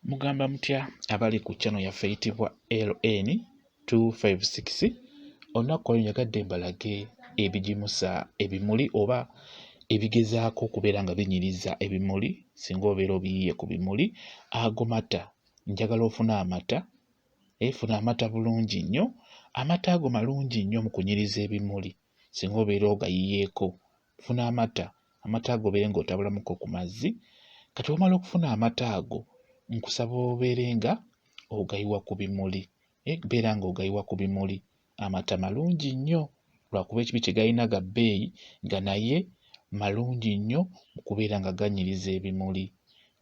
Mugamba mutya abali ku kyano yaffe eyitibwa LN 256 olunaku olwo njagadde mbalage ebigimusa ebimuli oba ebigezaako okubeera nga binyiriza ebimuli singa obeera obiyiye ku bimuli ago mata njagala ofune amata efuna amata bulungi nnyo amata ago malungi nnyo mu kunyiriza ebimuli singa obeera ogayiyeeko funa amata amata ago obeere nga otabulamuko ku mazzi kati wamala okufuna amata ago nkusaba obeere nga ogayiwa ku bimuli eh, beera nga ogayiwa ku bimuli amata malungi nnyo lwakuba ekibi kye galina ga bbeeyi nga naye malungi nnyo mu kubeera nga ganyiriza ebimuli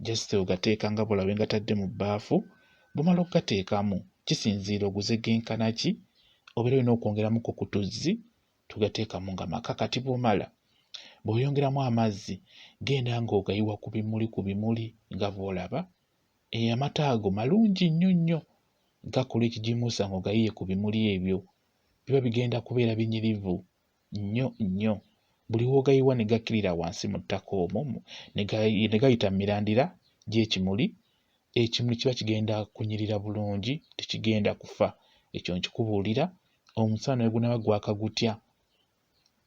just ogateeka nga bwolabe ngatadde mu bbaafu bumala okugateekamu kisinziira oguze genkana ki obeera olina okwongeramuko ku tuzzi tugateekamu nga maka kati bwomala bw'oyongeramu amazzi genda ng'ogayiwa ku bimuli ku bimuli nga bw'olaba eyo amata ago malungi nnyo nnyo gakola ekigimusa ng'ogayiye ku bimuli ebyo biba bigenda kubeera binyirivu nnyo nnyo buli w'ogayiwa ne gakkirira wansi mu ttaka omwo ne gayita mu mirandira gy'ekimuli ekimuli kiba kigenda kunyirira bulungi tekigenda kufa ekyo nkikubuulira omusana ne gunaaba gwaka gutya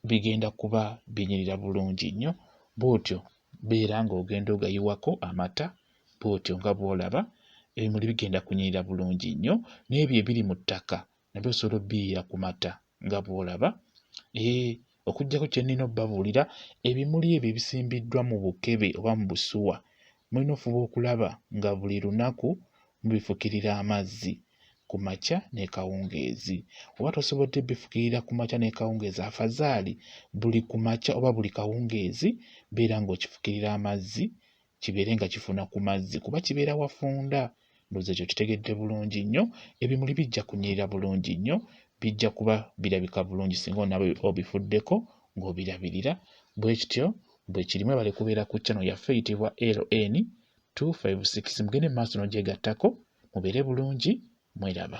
bigenda kuba binyirira bulungi nnyo bw'otyo beera ng'ogenda ogayiwako amata bw'otyo nga bw'olaba ebimuli bigenda kunyirira bulungi nnyo n'ebyo ebiri mu ttaka nabyo solo biira ku mata nga bw'olaba ee okuggyako kye nnina obabuulira ebimuli ebyo ebisimbiddwa mu bukebe oba mu busuwa mulina ofuba okulaba nga buli lunaku mubifukirira amazzi ku makya n'ekawungeezi oba tosobodde bifukirira ku makya n'ekawungeezi afazaali buli ku makya oba buli kawungeezi beera ng'okifukirira amazzi kibeere nga kifuna ku mazzi kuba kibeera wafunda ndoza ekyo kitegedde bulungi nnyo ebimuli bijja kunyirira bulungi nnyo bijja kuba birabika bulungi singa onaba obifuddeko ng'obirabirira bwe kityo bwe kiri mwebale kubeera ku channel yaffe eyitibwa ln 256 mugende mu maaso n'ogyegattako mubeere bulungi mweraba